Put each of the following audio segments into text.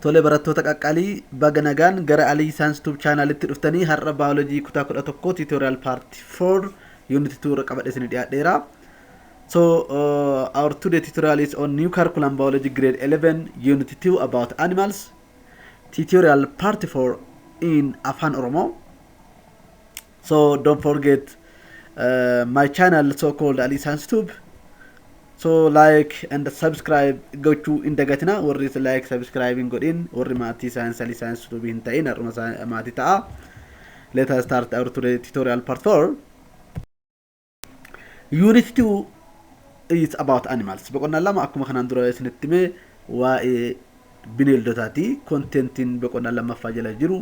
Tole barattoota qaqqaalii baga nagaan gara Alii Science Tube Channel itti dhuftanii har'a biology kutaa 11 tutorial part 4 unit 2 irra qabadhe isin dhiyaadheera. So uh, our today tutorial is on new curriculum biology grade 11 unit 2 about animals tutorial part 4 in Afan Oromo. so don't forget uh, my channel so called ali sans tube so like and subscribe gochuu hin dagatina warri like subscribe hin godhin warri maatii science ali science tube hin ta'in har'uma isaa- maatii ta'a let us start our today tutorial part 4 Unit 2 is about animals. Boqonnaan lama akkuma kanaan dura isinitti hime waa'ee bineeldotaati. Kontentiin boqonnaan lammaffaa jala jiru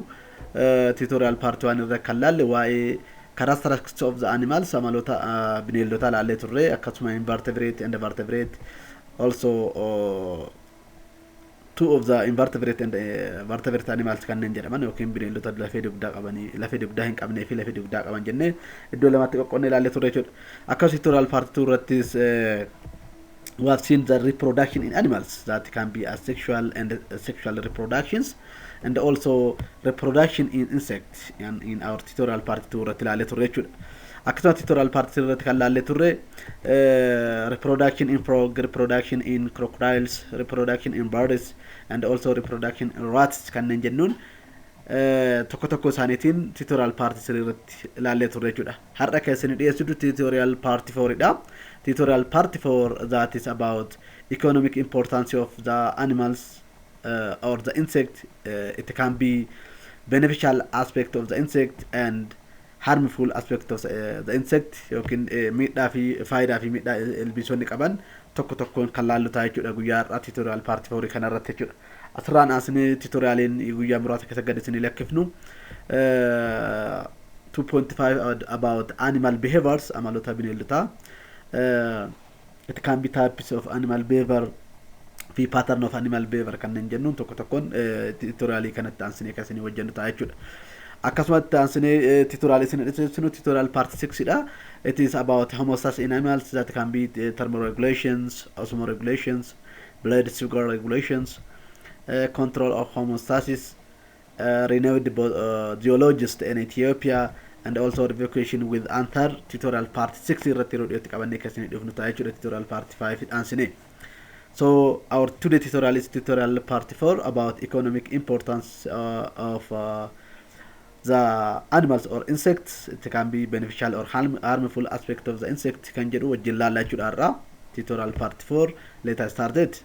tutorial part 1 irra kan laalle waa'ee characteristics of the animals amaloota uh, bineeldotaa laallee turre akkasuma invertebrate and vertebrate also uh, Two of the invertebrate and eh, vertebrate animals kanneen jedhaman yookiin bineeldota lafee dugdaa qabanii lafee dugdaa hin qabnee fi lafee dugdaa qaban jennee iddoo lamatti qoqqoodnee ilaallee turre jechuudha. Akka tutorial part 2 irrattis eh, we have seen the reproduction in animals that can be asexual and sexual reproductions and also reproduction in insects and in our tutorial part 2 irratti ilaallee turre jechuudha. Akkasuma tutorial part 3 irratti kan laallee turre reproduction in frog, reproduction in crocodiles, reproduction in birds and also reproduction in rats kanneen jennuun tokko tokko isaaniitiin tutorial part 3 irratti laallee turre jechuudha. Har'a kan isin dhiyeessitu tutorial part 4 dha. Tutorial part 4 that is about economic importance of the animals uh, or the insect uh, it can be beneficial aspect of the insect and Harmful aspects of the insect yookiin miidhaa fi faayidaa fi miidhaa ilbiisonni qaban tokko tokkoon kan laallu ta'a jechuudha guyyaa har'aa tutorial part 4 kana irratti jechuudha. Asirraan aansinee tutorialiin guyyaa muraasa keessa gad isinii lakkifnu eh, 2.5 about animal behaviors amaloota bineeldotaa eh, It can be types of animal behavior fi pattern of animal behavior kanneen jennuun tokko tokkoon titoriyaalii kanatti aansinee kan isinii hojjennu ta'a jechuudha. Akkasuma itti aansinee titoriyaalii isin dhiyeessinu titoriyaalii part 6 dha. It is about homeostasis in animals that can be thermoregulations, osmoregulations, blood sugar regulations, control of homeostasis, renewed geologist in Ethiopia and also revocation with Anthar tutorial part 6 irratti yeroo dhiyootti qabannee kan isinii dhufnu ta'a jechuudha tutorial part 5 itti aansinee. So our today tutorial is tutorial part 4 about economic importance uh, of uh, the animals or insects it can be beneficial or harm, harmful aspect of the insect kan jedhu wajjin laallaa jechuudha irraa tutorial part 4 let us start it.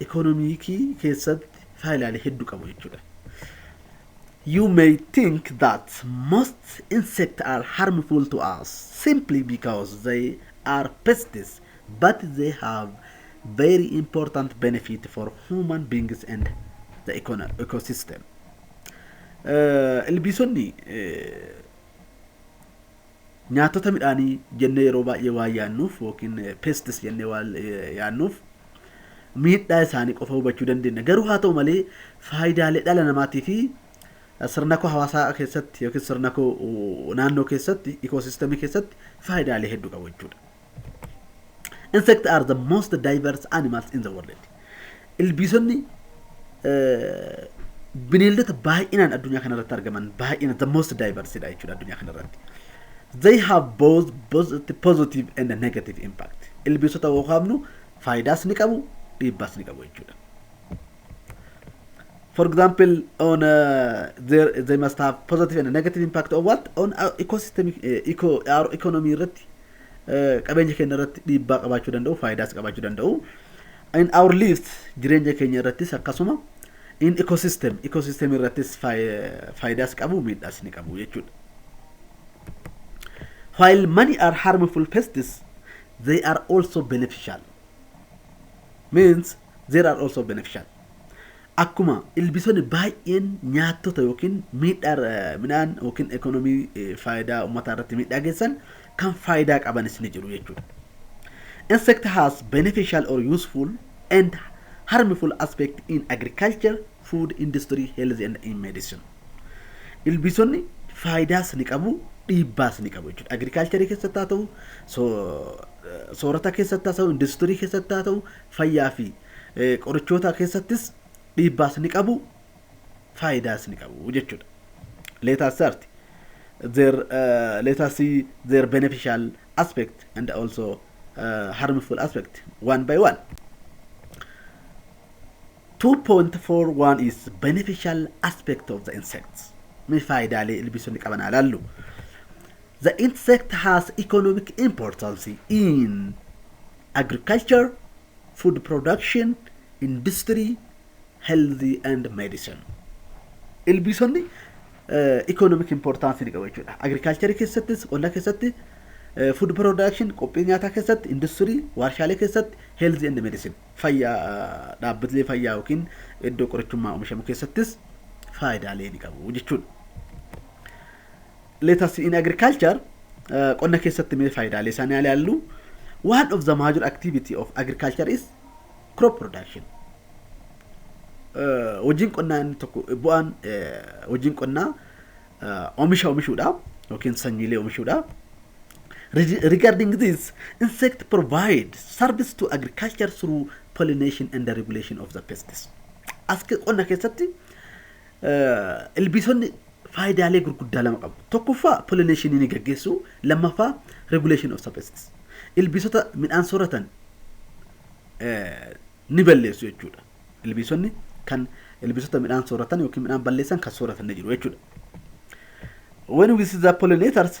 ikoonomiikii keessatti faayidaalee hedduu qabu jechuudha. You may think that most insects are harmful to us simply because they are pests, but they have very important benefit for human beings and the econo- ecosystem. Eh, Ilbiisonni eh, Nyaattota midhaanii jennee yeroo baay'ee waan yaannuuf ykn pests jennee waan yaannuuf miidhaa isaanii qofa hubachuu dandeenya. Garuu haa ta'u malee faayidaalee dhala namaatii fi sirnakoo hawaasaa keessatti yookiin sirnakoo naannoo keessatti ikoosiistemii keessatti faayidaalee hedduu qabu jechuudha. Insects are the most diverse animals in the world. Ilbiisonni bineeldota baay'inaan addunyaa kanarratti argaman baay'ina the most diverse dha jechuudha addunyaa kanarratti. They have both positive and negative impact. Ilbiisota yoo kaafnu faayidaas ni qabu dhiibbaas ni qabu jechuudha. For example, on uh, there, they must have positive and negative impact on what? On our ecosystem, uh, eco, our economy irratti qabeenya keenya irratti dhiibbaa qabaachuu danda'u, faayidaas qabaachuu danda'u. In our lives jireenya keenya irrattis akkasuma in ecosystem ecosystem irrattis faayidaas qabu miidhaas ni qabu jechuudha. While many are harmful pests, they are also beneficial. Means there are also beneficial. Akkuma ilbiisonni baay'een nyaattota yookiin miidhaa irra midhaan yookiin ekonomii faayidaa ummataa irratti miidhaa geessan kan faayidaa qabanis ni jiru jechuudha. Insect has beneficial or useful and harmful aspect in agriculture, food industry, health and in medicine. Ilbiisonni faayidaas ni qabu, dhiibbaas ni qabu jechuudha. Agriculture keessatti haa ta'u, soorata keessatti haa ta'u, industirii keessatti haa ta'u, fayyaa fi qorichootaa keessattis dhiibbaas ni qabu, faayidaas ni qabu jechuudha. Let us start their uh, let us see their beneficial aspect and also uh, harmful aspect one by one. 2.41 is beneficial aspect of the insects. Mee faayidaalee ilbiisonni qaban haa ilaallu. The insect has economic importance in agriculture, food production, industry, health and medicine. Ilbiisonni economic importance ni qabu jechuudha. Agriculture keessattis, qonna keessatti, food production, qophii nyaataa keessatti, industry, warshaalee keessatti, health and medicine. Fayyaa dhaabbilee fayyaa yookiin iddoo qorichummaa oomishamu keessattis faayidaalee ni qabu jechuudha. Let us in agriculture qonna keessatti mee faayidaalee isaanii haa ilaallu. One of the major activity of agriculture is crop production. Eh, Hojiin qonnaa inni tokko bu'aan eh, hojiin qonnaa eh, oomisha oomishuudha yookiin sanyiilee oomishuudha. Reg- Regarding this, insect provide service to agriculture through pollination and the regulation of the pests. As qonna keessatti eh, ilbiisonni faayidaalee gurguddaa lama qabu. Tokkoffaa pollination ni gaggeessu, lammaffaa regulation of pests. Ilbiisota midhaan sooratan ni balleessu jechuudha. Ilbiisonni kan ilbiisota midhaan sooratan yookiin midhaan balleessan kan sooratan ni jiru jechuudha. When we see the pollinators,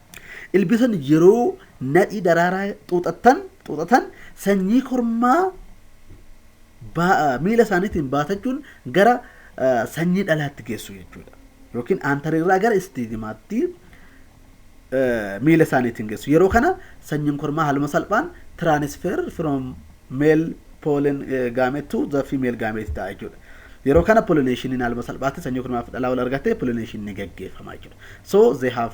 Ilbiisonni yeroo nadhii daraaraa xuuxatan, xuuxatan sanyii kormaa baa- miila isaaniitiin baatachuun gara eh, sanyii dhalaatti geessu jechuudha. Yookiin aantarirraa gara istiigimaatti eh, miila isaaniitiin geessu. Yeroo kana sanyiin kormaa haaluma salphaan transfer from male pollen eh, gamete to the female gamete ta'a jechuudha. Yeroo kana pollinationiin haaluma salphaatti sanyii kormaa fi dhalaa wal argatee pollination ni gaggeeffama jechuudha. So they have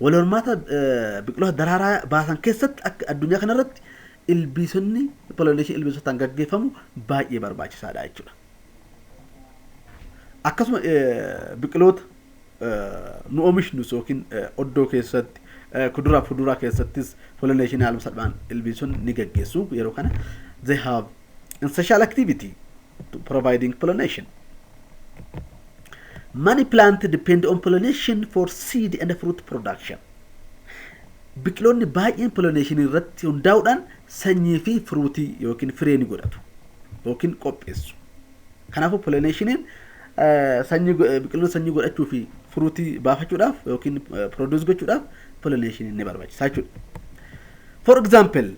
Wal hormaata biqiloota daraaraa baasan keessatti akka addunyaa kanarratti ilbiisonni pollination ilbiisotaan gaggeeffamu baay'ee barbaachisaadha jechuudha. Akkasuma biqiloota nu oomishnuus yookiin oddoo keessatti kuduraa fi fuduraa keessattis pollination haaluma salphaan ilbiisonni ni gaggeessu yeroo kana they have Ancestral activity to providing pollination. Many plants depend on pollination for seed and fruit production. Biqiloonni baay'een pollination irratti hundaa'uudhaan sanyii fi firuutii yookiin firee ni godhatu yookiin qopheessu. Kanaafuu pollinationiin sanyii biqiloonni sanyii godhachuu fi firuutii baafachuudhaaf yookiin produce gochuudhaaf pollinationiin ni barbaachisa jechuudha. For example,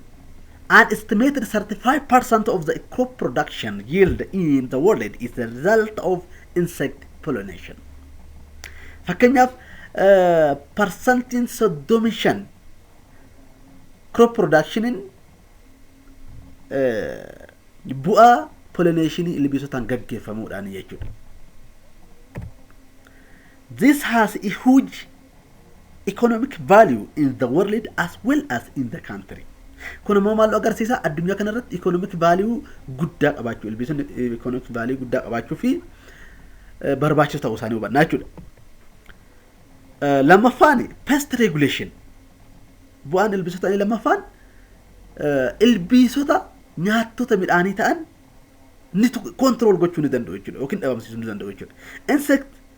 an estimated 35% of the crop production yield in the world is the result of insect pollination. Fakkeenyaaf, eh, parsantiin 35 crop productionin eh, bu'aa pollineeshinii ilbiisotaan gaggeeffamuudhaan jechuudha. This has a huge economic value in the world as well as in the country. Kun immoo maal agarsiisa? Addunyaa kanarratti economic value guddaa qabaachuu, ilbiisonni economic value guddaa qabaachuu fi eh, barbaachisoo ta'uu isaanii hubannaa jechuudha. Eh, Lammaffaan pest regulation. Bu'aan ilbiisota inni lammaffaan eh, ilbiisota nyaattota midhaanii ta'an ni kontrol gochuu ni danda'u jechuudha yookiin dhabamsiisuu ni danda'u jechuudha. Insect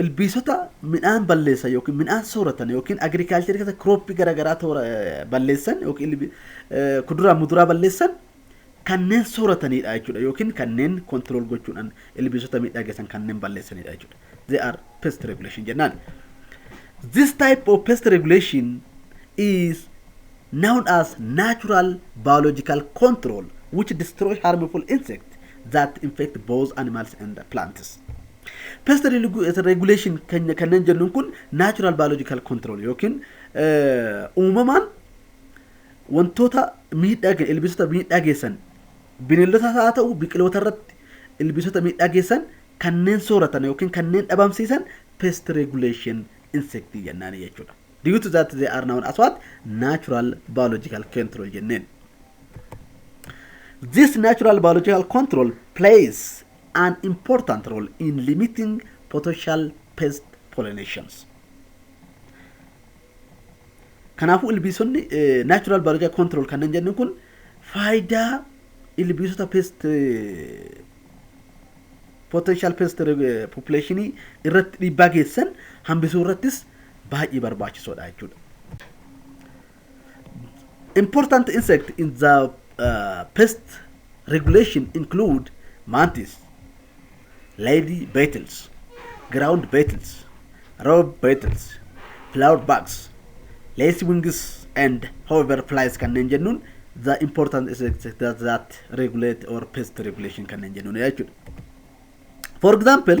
Ilbiisota midhaan balleessan yookiin midhaan sooratan yookiin agirikaalcharii keessa kirooppii garaagaraa toora balleessan yookiin kuduraa muduraa balleessan kanneen sooratanidha jechuudha yookiin kanneen kontirool gochuudhaan ilbiisota miidhaa geessan kanneen balleessanidha jechuudha. They are pest regulation jennaan. This type of pest regulation is known as natural biological control which destroy harmful insect that infect both animals and plants. Pest regu- regulation keenya kanneen jennuun kun natural biological control yookiin eh, uumamaan wantoota miidhaa ge- ilbiisota miidhaa geessan bineeldotas haa ta'u biqiloota irratti ilbiisota miidhaa geessan kanneen sooratan yookiin kanneen dhabamsiisan pest regulation insect jennaan jechuudha. Due to that they are known as what? Natural biological control jenneen. This natural biological control plays an important role in limiting potential pest pollinations. Kanaafuu ilbiisonni eh, natural biological control kanneen jennu kun faayidaa ilbiisota pest eh, potential pest eh, population irratti dhiibbaa geessan hambisuu irrattis baay'ee barbaachisoodha jechuudha. Important insect in the uh, pest regulation include mantis, lady beetles, ground beetles, robe beetles, flower bugs, lace wings and hover flies kanneen jennuun the important insects that, that regulate or pest regulation kanneen jennuun jechuudha. For example,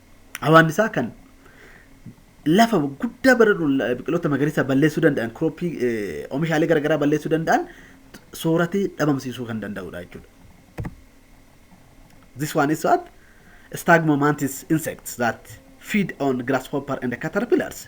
Hawaannisaa kan lafa guddaa baradu biqiloota magariisaa balleessuu danda'an kirooppii oomishaalee garaagaraa balleessuu danda'an sooratee dhabamsiisuu kan danda'udha jechuudha. This one is what? Stagmomantis insects that feed on grasshopper and caterpillars.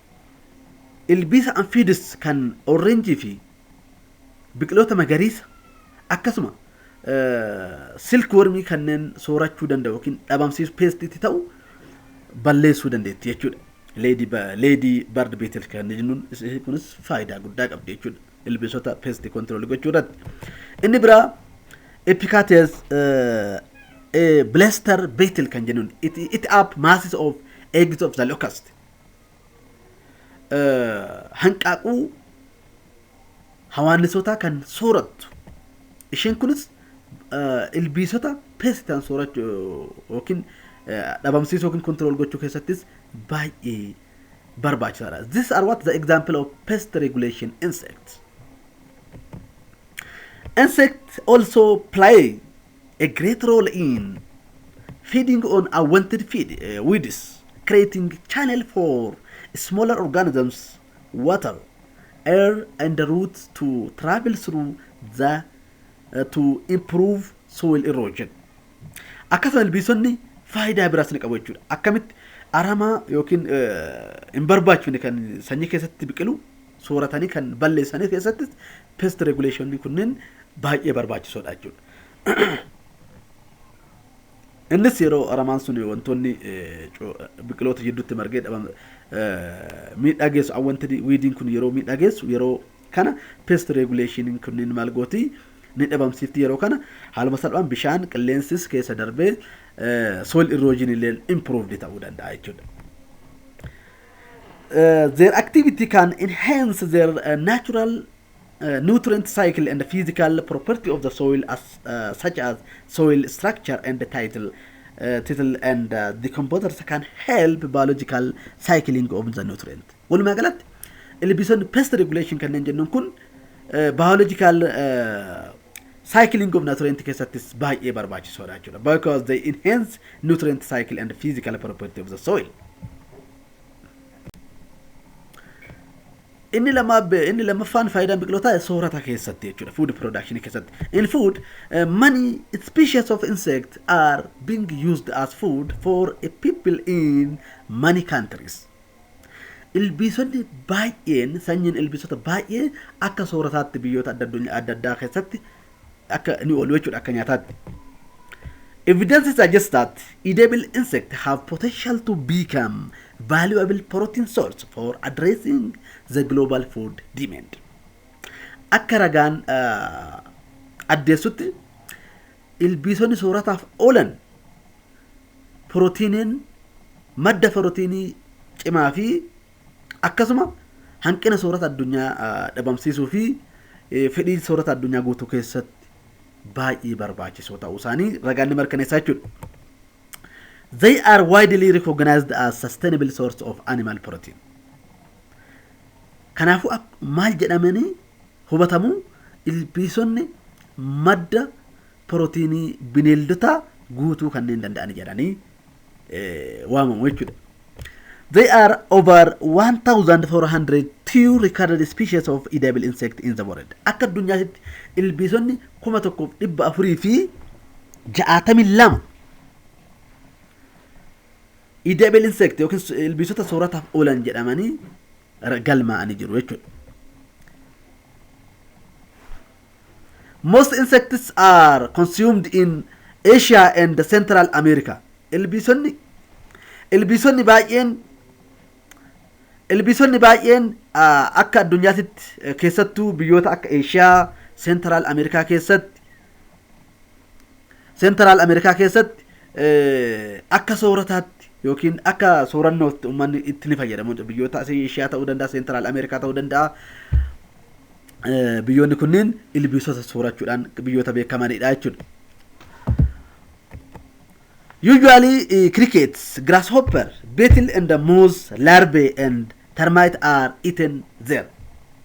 Ilbiisa Amphiids kan Oorreenjii fi biqiloota magariisa akkasuma silk wormii kanneen soorachuu danda'u yookiin dhabamsiisu peestiitti ta'u balleessuu dandeetti jechuudha. Leedii baard beetil kan jennuun isheen kunis faayidaa guddaa qabdi jechuudha. Ilbiisota peesti kontiroolii gochuu irratti. Inni biraa epikaatees bileester beetil kan jennuun it app masses of eggs of the locust hanqaaquu hawaannisootaa kan soorattu. Isheen kunis ilbiisota peesti ta'an soorachuu yookiin dhabamsiisuu yookiin kontirool gochuu keessattis baay'ee barbaachisaadha. This are what the example of pest regulation insects. Insects also play A great role in feeding on unwanted feed, uh, weeds, creating channel for smaller organisms, water, air and roots to travel through the uh, to improve soil erosion. Akkasuma ilbiisonni faayidaa biraas ni qabu jechuudha. Akkamitti aramaa yookiin hin barbaachifne kan sanyii keessatti biqilu sooratanii kan balleessanii keessattis pest regulation kunneen baay'ee barbaachisoodha jechuudha. Innis yeroo aramaan sun wantoonni biqiloota jidduutti margee dhaban miidhaa geessu awwantii wiidiin kun yeroo miidhaa geessu yeroo kana pest regulation kunniin maal gooti ni dhabamsiifti yeroo kana haaluma salphaan bishaan qilleensis keessa darbee soil erosion illee improved ta'uu danda'a jechuudha. Their activity can enhance their natural nutrient cycle and physical property of the soil as uh, such as soil structure and title uh, tittle and uh, decomposers can help biological cycling of the nutrient walumaa galatti ilbiisonni pest regulation kanneen jennuun kun uh, biological uh, cycling of nutrient keessattis baay'ee barbaachisoodha jechuudha because they enhance nutrient cycle and physical property of the soil Inni lamaa inni lammaffaan faayidaan biqilootaa soorata keessatti jechuudha food production keessatti. In food uh, many species of insect are being used as food for a people in many countries. Ilbiisonni baay'een sanyiin ilbiisota baay'ee akka soorataatti biyyoota adda addunyaa adda addaa keessatti akka ni oolu jechuudha akka nyaataatti. Evidence suggests that edible insects have potential to become valuable protein source for addressing the global food demand. Akka ragaan addeessutti ilbiisonni soorataaf oolan pirootiiniin madda pirootiinii cimaa fi Akkasuma hanqina soorata addunyaa dhabamsiisuu fi fedhii soorata addunyaa guutuu keessatti baay'ee barbaachisoo ta'uu isaanii ragaan ni mirkaneessa jechuudha. They are widely recognized as sustainable source of animal protein. Kanaafuu maal jedhamanii hubatamu ilbiisonni madda pirootiinii bineeldotaa guutuu kanneen danda'an jedhanii waamamu jechuudha. They are over 1400 two recorded species of edible insect in the world. Akka addunyaatti ilbiisonni 1462 edible insect yookiin ilbiisota soorataaf oolan jedhamanii galmaa'anii jiru jechuudha. Most insects are consumed in Asia and Central America. Ilbiisonni ilbiisonni baay'een ilbiisonni baay'een ah, akka addunyaatitti eh, keessattuu biyyoota akka Eeshiyaa, Seentiraal Ameerikaa keessatti Seentiraal Ameerikaa keessatti eh, akka soorataatti yookiin akka soorannootti uummanni itti ni fayyadamu. Biyyoota asii Eeshiyaa ta'uu danda'a, Seentiraal Ameerikaa ta'uu danda'a. biyyoonni kunniin ilbiisota soorachuudhaan biyyoota beekamanidha jechuudha. Usually uh, crickets, grasshopper, beetle and the mouse, larvae and termite are eaten there.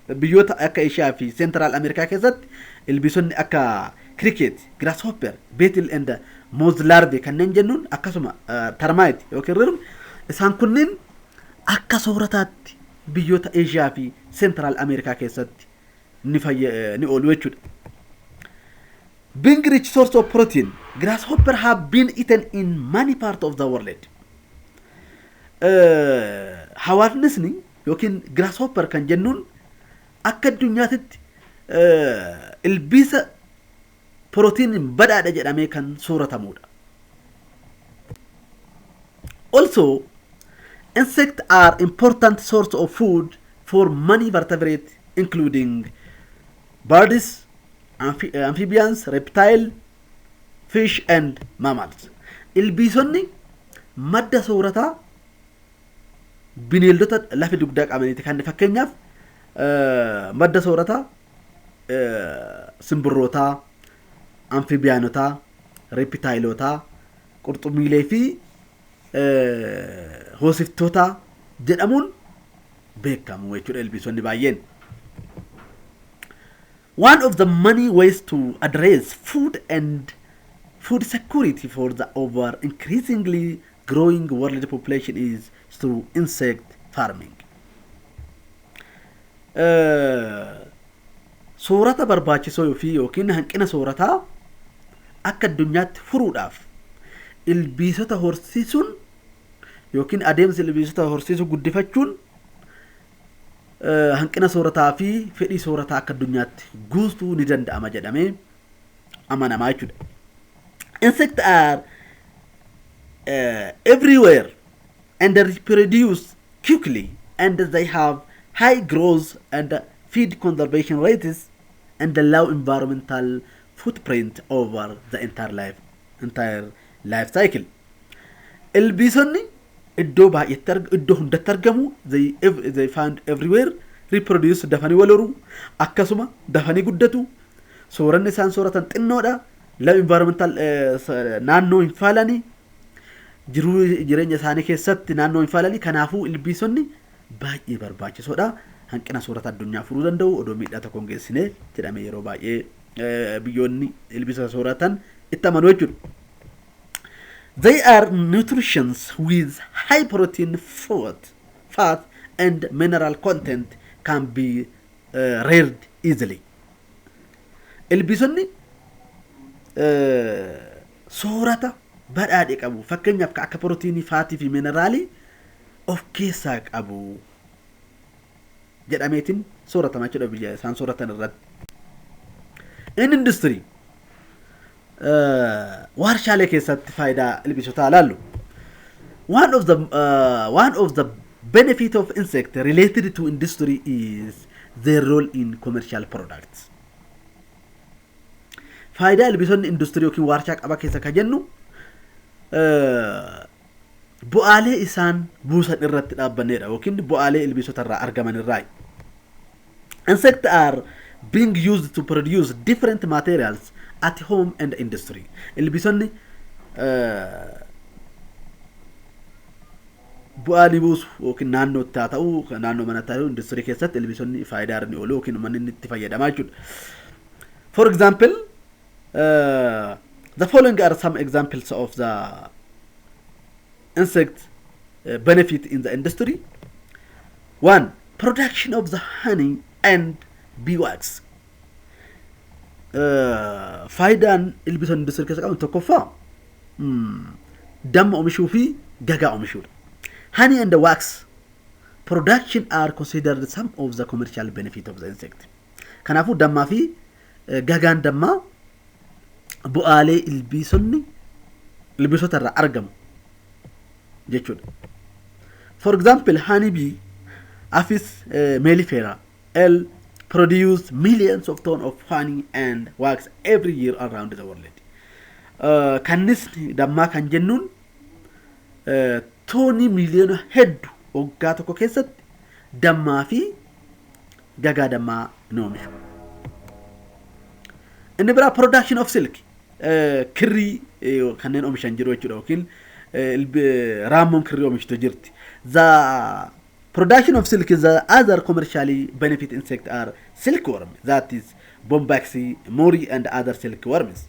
Biyyoota akka Eeshiyaa fi Seentiraal Ameerikaa keessatti ilbiisonni akka cricket, grasshopper, beetle and the mouse larvae kanneen jennuun akkasuma uh, termite yookiin rirmi isaan kunniin akka soorataatti biyyoota Eeshiyaa fi Seentiraal Ameerikaa keessatti ni fayya ni oolu jechuudha. Being rich source of protein, grasshopper have been eaten in many part of the world. Eh, Hawaasnisni yookiin grasshopper kan jennuun akka addunyaatitti eh, ilbiisa Pirootiiniin badhaadha jedhamee kan sooratamuudha. Also, insects are important source of food for many vertebrate including birds, amphi- amphibians, reptile, fish and mammals. Ilbiisonni madda soorataa bineeldota lafa dugdaa qabaniiti kan fakkeenyaaf eh, madda soorataa simbirrootaa, amfibiyaanotaa, reepitaayilootaa, qurxummiilee fi hoosiftootaa jedhamuun beekamu jechuudha ilbiisonni baay'een. One of the many ways to address food and food security for the over increasingly growing world population is through insect farming. Soorata barbaachisoo fi yookiin hanqina soorataa akka addunyaatti furuudhaaf ilbiisota horsiisuun yookiin adeemsa ilbiisota horsiisuu guddifachuun hanqina soorataa fi fedhii soorataa akka addunyaatti guutuu ni danda'ama jedhamee amanamaa jechuudha. Insect are uh, everywhere and reproduce quickly and they have high growth and feed conservation rates and low environmental footprint over the entire life, entire life cycle. Ilbiisonni iddoo baay'eetti arg- iddoo hundatti argamu they, ev- they find everywhere reproduce dafanii wal horu akkasuma dafanii guddatu sooranni isaan sooratan xinnoodha Love environmental naannoo hin faalani jiruu jireenya isaanii keessatti naannoo hin faalani kanaafuu ilbiisonni baay'ee barbaachisoodha. Hanqina soorata addunyaa furuu danda'u odoo miidhaa tokko hin geessine jedhamee yeroo baay'ee biyyoonni ilbiisota sooratan itti amanu jechuudha. They are nutritions with high protein, fat, fat and mineral content can be uh, reared easily. Ilbiisonni soorata badhaadhe qabu. Fakkeenyaaf akka pirootiinii, faatii fi mineraalii of keessaa qabu jedhameetiin sooratama jechuudha biyya isaan sooratan irratti. Inni industirii Waarshaalee keessatti faayidaa ilbiisotaa ilaallu. One of the uh, one of the benefit of insect related to industry is their role in commercial products. Faayidaa ilbiisonni industirii yookiin waarshaa qaba keessa kan jennu bu'aalee isaan buusan irratti dhaabbanneedha yookiin bu'aalee ilbiisota irraa argaman irraa Insects are being used to produce different materials at home and industry. Ilbiisonni bu'aa ni buusu yookiin naannootti haa ta'u naannoo manatti haa ta'u industirii keessatti ilbiisonni faayidaa irra ni oolu yookiin uummanni inni itti fayyadamaa jechuudha. For example, uh, the following are some examples of the insect benefit in the industry one production of the honey and beeswax faayidaan ilbiisonni industirii keessa qaban tokkoffaa damma omishuu fi gagaa omishuudha. Honey and wax production are considered some of the commercial benefit of the insect. Kanaafuu dammaa fi Gagaan dammaa bu'aalee ilbiisonni ilbiisota irraa argamu jechuudha. For example, honey bee, Apis eh, mellifera, L produce millions of tons of honey and wax every year around the world. Eh, Kannisni dammaa kan jennuun eh, toonii miiliyoona heddu waggaa tokko keessatti dammaa fi gagaa dammaa ni oomishu. Inni biraa production of silk kirrii kanneen oomishan jiru jechuudha yookiin raammoon kirrii oomishtu jirti. The production of silk is the other commercially benefit insect are silkworm that is bombaxi, mori and other silkworms.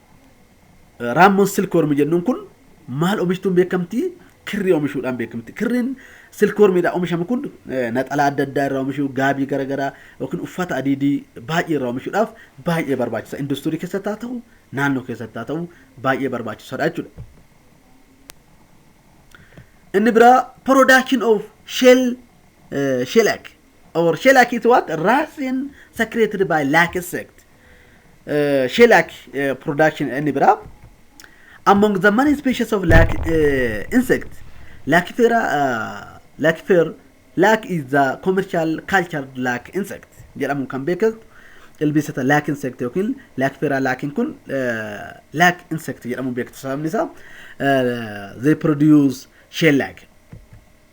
Raammoon silkworm jennuun kun maal omishtuun beekamti? Kirrii omishuudhaan beekamti. Kirriin silkwormiidhaan omishamu kun naxalaa adda addaa irraa omishuu, gaabii garaagaraa yookiin uffata adiidii baay'ee irraa omishuudhaaf baay'ee barbaachisa. Industirii keessatti haa ta'u, naannoo keessatti haa ta'u baay'ee barbaachisaadha jechuudha. Inni biraa production of shell shellac or shall I it what Rasin secreted by Lake sect uh, shall I uh, production and bra among the many species of lake uh, insect Lacifera uh, Lacifer lake is the commercial cultured lake insect jedhamuun kan beekamu ilbiisota lake insect yookiin Lacifera laakiin kun uh, lake insect jedhamuun beektu sababni isaa uh, they produce shell lake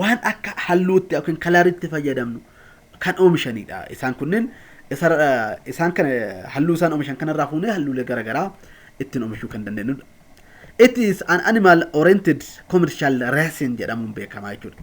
waan akka halluutti yookiin kalaritti fayyadamnu kan oomishanidha. Isaan kunneen isaan kana halluu isaan oomishan kanarraa fuunee halluulee garaagaraa ittiin oomishuu kan dandeenyudha. It is an animal oriented commercial racing jedhamuun beekama jechuudha.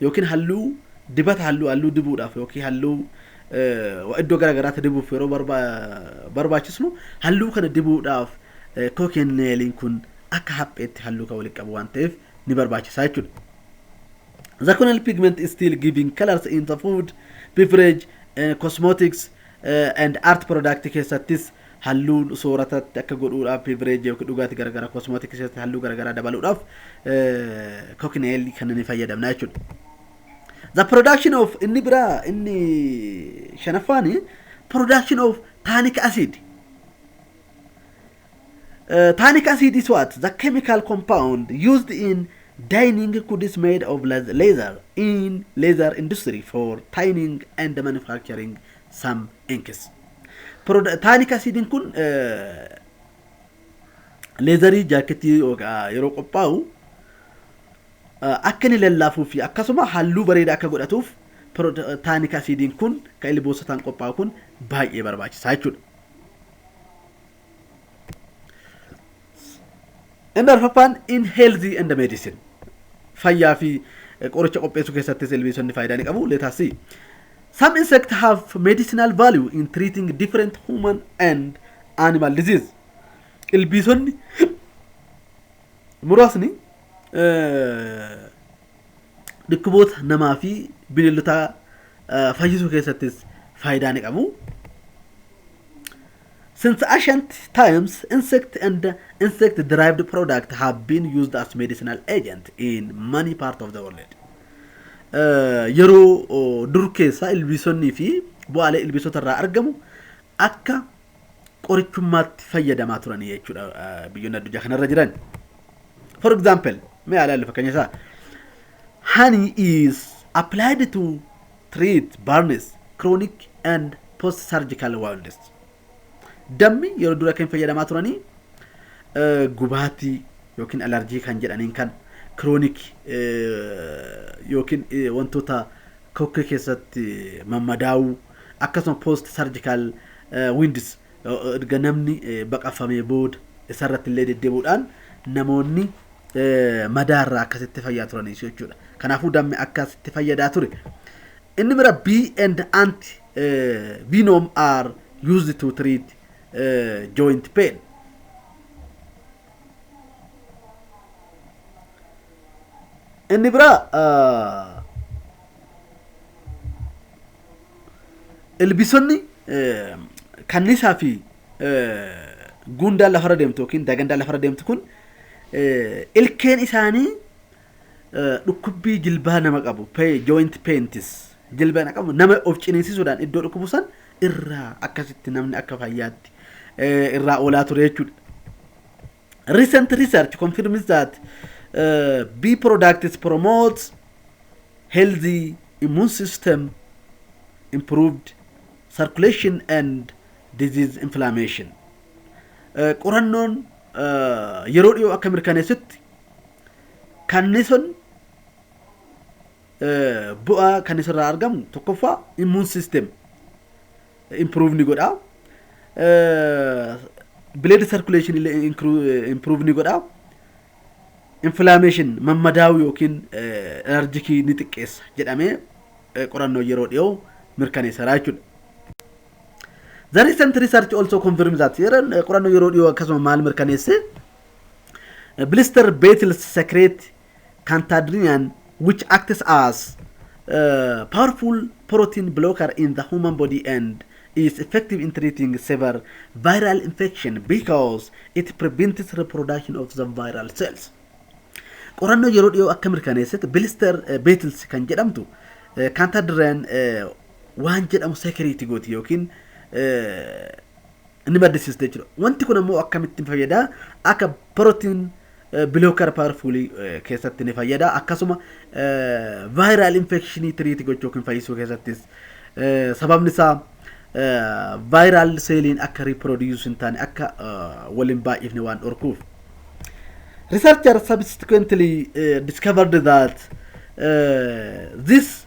yookiin halluu dibata halluu halluu dibuudhaaf yookiin halluu eh, iddoo gara garaatti dibuuf yeroo barba- barbaachisnu halluu kana dibuudhaaf eh, kookeen neeliin kun akka hapheetti halluu kan walitti qabu waan ta'eef ni barbaachisa jechuudha. The corneal pigment is still giving colors in the food, beverage, eh, cosmetics eh, and art product keessattis Halluu sooratatti akka godhuudhaaf beverage yookiin dhugaati garagara cosmetic keessatti halluu garagaraa dabaluudhaaf cocknail kan ni fayyadamna jechuudha. The production of inni biraa inni shanaffaan production of tannic acid. Uh, tannic acid is what? The chemical compound used in dyeing goods made of leather in leather industry for tanning and manufacturing some inks. Proda- Taaniik asiidiin kun eh, leezarii jaakketii yookaan yeroo qophaa'u eh, akka inni lallaafuu fi akkasuma halluu bareedaa akka godhatuuf proda- taaniik asiidiin kun kan ilboosotaan qophaa'u kun baay'ee barbaachisaa jechuudha. Inni arfaffaan in healthy and medicine. Fayyaa fi eh, qoricha qopheessuu keessattis ilbiisonni faayidaa ni qabu. Let us see. Some insects have medicinal value in treating different human and animal disease. Ilbiisonni muraasni eh, dhukkuboota namaa fi bineeldotaa eh, fayyisuu keessattis faayidaa ni qabu. Since ancient times, insect and insect derived products have been used as medicinal agent in many parts of the world. Eh, Yeroo oh, dur keessa ilbiisonni fi bu'aalee ilbiisota irraa argamu akka qorichummaatti fayyadamaa turanii jechuudha eh, biyyoonni addunyaa kanarra jiran. For example, mee haa ilaallu fakkeenya isaa. Honey is applied to treat burns, chronic and post surgical wounds. Dammi yeroo dura kan fayyadamaa turanii eh, gubaatii yookiin alarjii kan jedhaniin kan chronic eh, yookiin eh, wantoota kokkee keessatti mammadaa'uu akkasuma post surgical eh, wounds eh, erga namni eh, baqafamee booda isarratti illee deddeebuudhaan namoonni madaa irraa akkasitti fayyaa turaniisu jechuudha. Kanaafuu dammi akkasitti fayyadaa ture. Inni bira B and anti venom are used to treat joint pain. Inni bira ilbisonni kannisaa fi guundaan lafarra deemtu yookiin dagandaan lafarra deemtu kun ilkeen isaanii dhukkubbii jilbaa nama qabu joint pains jilbaa nama qabu nama of ciniinsisuudhaan iddoo dhukkubu san irraa akkasitti namni akka fayyaatti irraa oolaa ture jechuudha. Recent research confirms that uh, bee products promotes healthy immune system, improved circulation and disease inflammation. Uh, qorannoon uh, yeroo dhiyoo akka mirkaneessutti kannisoon uh, bu'aa kannisoorraa argamu tokkoffaa immune system improve ni godha. Blood circulation illee improve ni godha. Inflammation mammadaa'uu yookiin alerjikii ni xiqqeessa jedhamee qorannoo yeroo dhiyoo mirkaneesseera jechuudha. The recent research also confirms that qorannoo yeroo dhiyoo akkasuma maal mirkaneesse? Blister beetles secrete Cantadrian which acts as a powerful protein blocker in the human body and is effective in treating severe viral infection because it prevents reproduction of the viral cells. Qorannoo yeroo dhiyoo akka mirkaneessetti Bilister Beetils kan jedhamtu Cantadrian waan jedhamu sekiriiti gooti yookiin ni maddisiista jechuudha. Wanti kun ammoo akkamitti ni fayyada? Akka protein bilooker paarfuulii keessatti ni fayyada. Akkasuma vaayiraal infekshinii tiriitii gochuu yookiin fayyisuu keessattis sababni isaa vaayiraal seeliin akka riiproodiyuus hin taane akka waliin baay'ifne waan dhorkuuf. Researcher subsequently discovered that this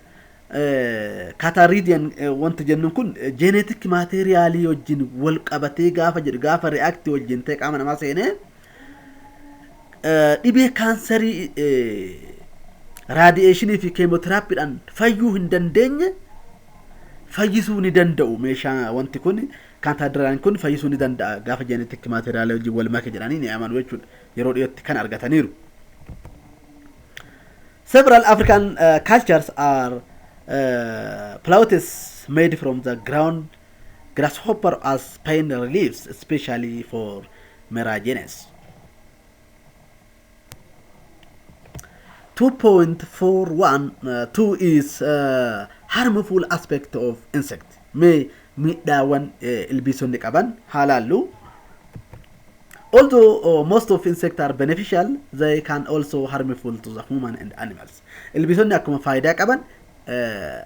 Kaataaridiyaan wanti jennuun kun jeeneetikki maateeriyaalii wajjin wal qabatee gaafa jedhu gaafa reaakti wajjin ta'e qaama namaa seenee dhibee kaansarii raadiyeeshinii fi keemoteraappiidhaan fayyuu hin dandeenye fayyisuu ni danda'u meeshaa wanti kun kaataadiraan kun fayyisuu ni danda'a gaafa jeeneetikki maateeriyaalii wajjin wal make jedhanii ni amanu jechuudha yeroo dhiyootti kan argataniiru. Several African cultures are plautus made from the ground grasshopper as pain reliefs, especially for meragenes. 2.41 2 is uh, harmful aspect of insect mee miidhaawwan ilbiisonni qaban haalaallu Although most of insects are beneficial, they can also harmful to the human and animals. Ilbiisonni akkuma faayidaa qaban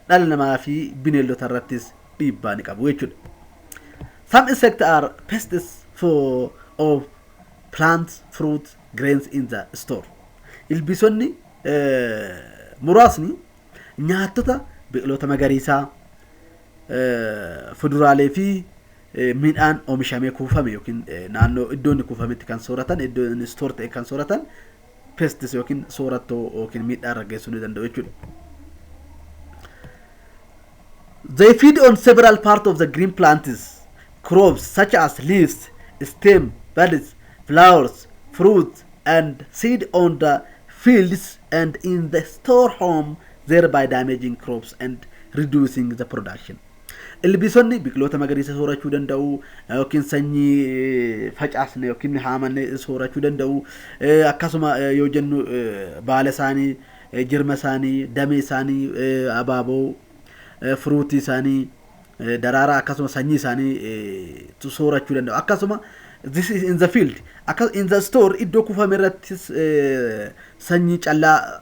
dhala namaa fi bineeldota irrattis dhiibbaa ni qabu jechuudha. Some insects are pests for of plants, fruit, grains in the store. Ilbiisonni muraasni nyaattota biqiloota magariisaa, fuduraalee fi Midhaan omishamee kuufame yookiin naannoo iddoo inni kuufametti kan sooratan, iddoo inni store ta'e kan sooratan pests yookiin soorattoo yookiin miidhaa irra geessuu ni danda'u jechuudha. They feed on several parts of the green plants, crops such as leaves, stem, buds, flowers, fruits, and seed on the fields and in the store home, thereby damaging crops and reducing the production. Ilbiisonni biqiloota magariisa soorachuu danda'u yookiin sanyii facaasne yookiin haamanne soorachuu danda'u. Akkasuma yoo jennu baala isaanii, jirma isaanii, damee isaanii, abaaboo, firuutii isaanii, daraaraa akkasuma sanyii isaanii soorachuu danda'u. Akkasuma this is in the field. Akka in the store iddoo kuufame irrattis sanyii callaa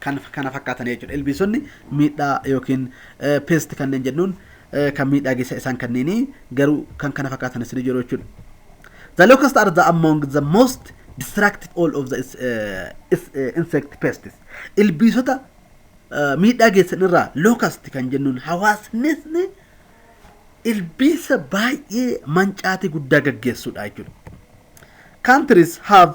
kan kana fakkaatan jechuudha. Ilbiisonni miidhaa yookiin pest kanneen jennuun kan miidhaa geessa isaan kanneenii garuu kan kana fakkaatan isin jiru jechuudha. The locust are the among the most destructive all of the uh, is, uh, insect pests. Ilbiisota uh, miidhaa geessan irraa locust kan jennuun hawaasni ilbiisa baay'ee mancaatii guddaa gaggeessuudha jechuudha. Countries have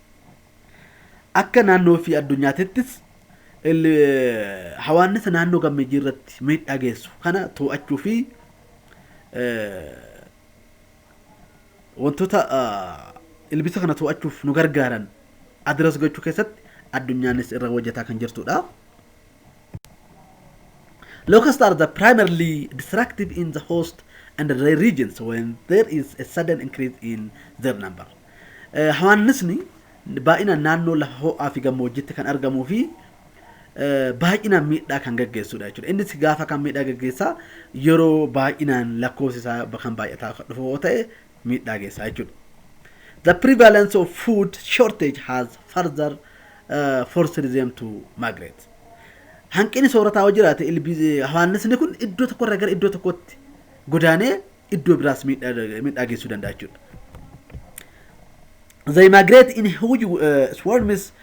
Akka naannoo fi addunyaatittis hawaannisa naannoo gammeejjii irratti miidhaa geessu kana too'achuu fi wantoota ilbisa kana too'achuuf nu gargaaran adiras gochuu keessatti addunyaanis irra hojjetaa kan jirtudha. Locusts are the primarily destructive in the host and the regions when there is a sudden increase in their number. Hawaannisni baay'inaan naannoo lafa ho'aa fi gammoojjiitti kan argamuu fi baay'inaan miidhaa kan gaggeessudha jechuudha. Innis gaafa kan miidhaa gaggeessaa yeroo baay'inaan lakkoofsi isaa kan baay'ataa kan dhufu yoo ta'e miidhaa geessaa jechuudha. The prevalence of food shortage has further uh, forced them to migrate. Hanqinni soorataa yoo jiraate hawaannisni kun iddoo tokkorraa gara iddoo tokkootti godaanee iddoo biraas miidhaa miidhaa geessuu danda'a jechuudha. They migrate in huge uh, swarms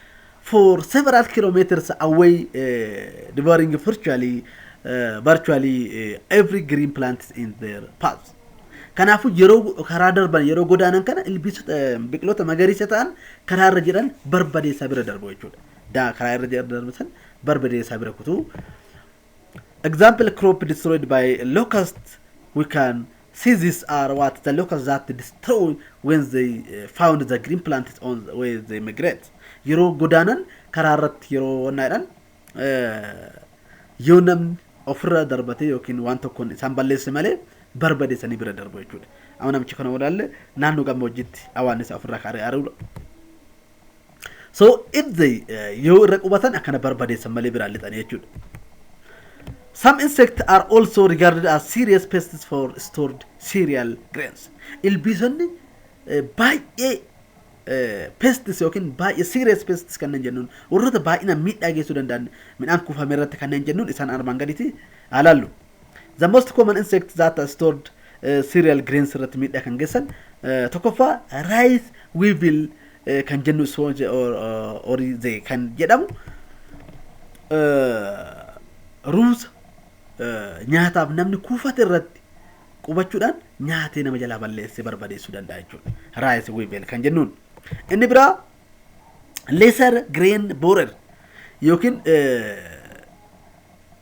for several kilometers away, uh, devouring virtually, uh, virtually uh, every green plant in their path. Kanaafuu yeroo karaa darban yeroo godaanan kana ilbiisota eh, biqiloota magariisa ta'an karaa irra jiran barbadeessaa bira darbu jechuudha. Daa karaa irra jiran darbu san barbadeessaa bira kutuu Example crop destroyed by locust we can see these are what the locusts that destroy when they eh, found the green plants on the way they migrate yeroo godaanan karaa irratti yeroo wannaadhan yoo namni ofirra darbatee yookiin waan tokkoon isaan balleesse malee barbadeessanii bira darbu jechuudha amma namichi kana walaalle naannoo gammoojjiitti awaannisa ofirraa kaaree ari'udha So if they uh, yoo irra qubatan akkana barbadeessan malee biraan lixanii jechuudha. Some insects are also regarded as serious pests for stored cereal grains. Ilbiisonni eh, baay'ee eh, pests yookiin baay'ee serious pests kanneen jennuun warroota baay'inaan miidhaa geessuu danda'an midhaan kuufame irratti kanneen jennuun isaan armaan gaditti haa laallu. The most common insects that are stored uh, cereal grains irratti miidhaa kan geessan uh, tokkoffaa rice weevil uh, kan jennu sponge or, uh, or the kan jedhamu uh, ruuza uh, nyaataaf namni kuufate irratti qubachuudhaan nyaatee nama jalaa balleessee barbadeessuu danda'a jechuudha. Rice weevil kan jennuun. Inni biraa lesser grain borer yookiin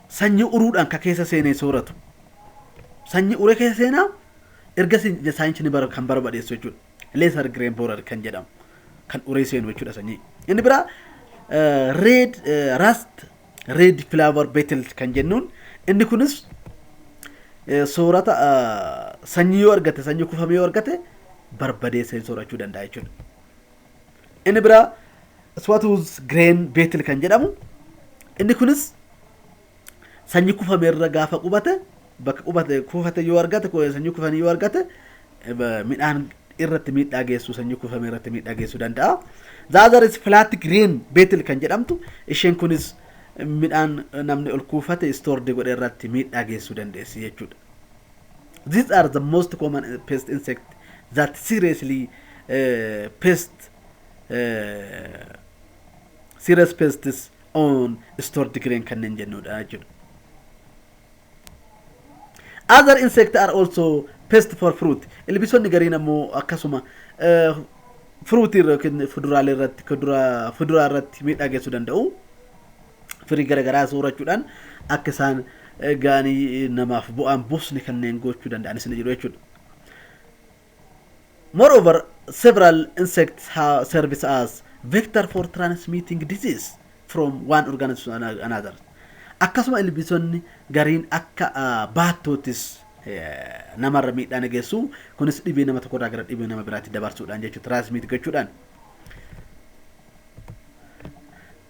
sanyii uruudhaan ka keessa seenee sooratu. Sanyii uree keessa seenaa erga saayinsi ni kan barbadeessu jechuudha. Lesser grain borer kan jedhamu kan uree seenu jechuudha sanyii. Inni biraa red rust red flower beetle kan jennuun inni kunis soorata sanyii yoo argate sanyii kufame yoo argate barbadeessee soorachuu danda'a jechuudha. Inni biraa Swatuuz Gireen Beetil kan jedhamu inni kunis sanyii kufame irra gaafa qubate bakka qubate kuufate yoo argate sanyii kufanii yoo argate midhaan irratti miidhaa geessuu sanyii kufame irratti miidhaa geessuu danda'a. Zaazaris filaatti Gireen Beetil kan jedhamtu isheen kunis midhaan namni ol kuufate istoordii godhe irratti miidhaa geessuu dandeessi jechuudha. These are the most common pest insect that seriously uh, pest uh, serious pests on stored grain kanneen jennudha jechuudha. Other insect are also pest for fruit. Ilbiisonni gariin ammoo akkasuma uh, fruit irra yookiin fuduraalee irratti kuduraa fuduraa irratti miidhaa geessuu danda'u. firii gara garaa soorachuudhaan akka isaan gaanii namaaf bu'aan buusni kanneen gochuu danda'anis ni jiru jechuudha. Moreover, several insects have service as vector for transmitting disease from one organism to ano- another. Akkasuma ilbiisonni gariin akka ah, baattoottis eh, namarra miidhaa ni geessu. Kunis dhibee nama tokkorraa gara dhibee nama biraatti dabarsuudhaan jechuudha. Transmit gochuudhaan.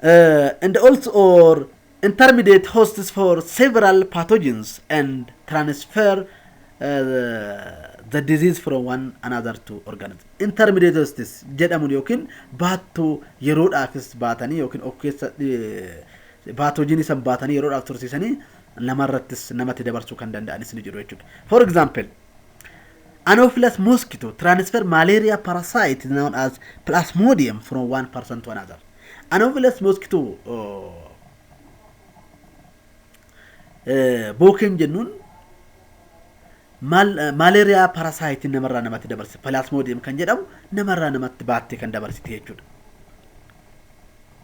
uh, and also or intermediate hosts for several pathogens and transfer uh, the disease from one another to organism. Intermediate hosts jedhamun yookiin baattuu yeroodhaafis baatanii yookiin of keessa baatoojinii san baatanii yeroodhaaf tursiisanii namarrattis namatti dabarsuu kan danda'anis ni jiru jechuudha. For example, Anopheles mosquito transfer malaria parasite known as plasmodium from one person to another. Anopheles mosquito bookeen jennuun malaria parasite namarraa namatti dabarsi plasmodium kan jedhamu namarraa namatti baattee kan dabarsite jechuudha.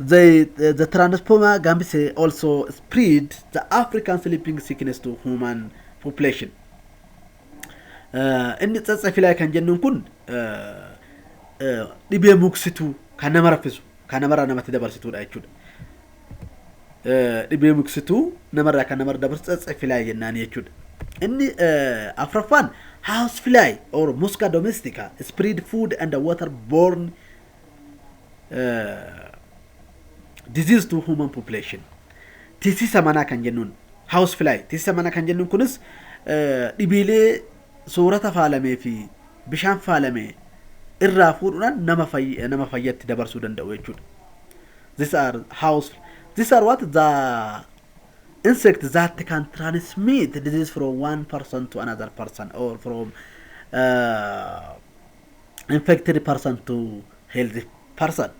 They, the, the transformer gambise also spread the African sleeping sickness to human population. Eh, Inni tsatsafilaa kan jennuun kun eh, eh, dhibee muksituu kan nama raffisu kan namarraa namatti dabarsituudha jechuudha. Eh, Dhibee muksituu namarraa kan namarra dabarsu tsatsafilaa jennaan jechuudha. Inni eh, afraffaan house fly or musca domestica spread food and water borne disease to human population tisisa manaa kan jennuun house fly tisisa manaa kan jennuun kunis dhibeelee soorata faalamee fi bishaan faalame irraa fuudhuudhaan nama fayy- nama fayyatti dabarsuu danda'u jechuudha. These are house these are what the insect that can transmit disease from one person to another person or from uh, infected person to healthy person.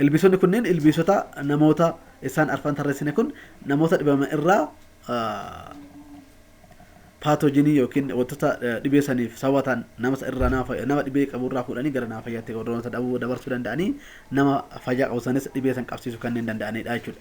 Ilbiisonni kunneen ilbiisota namoota isaan arfan tarreessine kun namoota dhibaman irraa paatoojinii yookiin wantoota dhibee saniif sababa ta'an nama irraa nama dhibee qabu irraa fuudhanii gara nama fayyaatti warroota dhabuu dabarsuu danda'anii nama fayyaa qabu sanis dhibee san qabsiisuu kanneen danda'anidha jechuudha.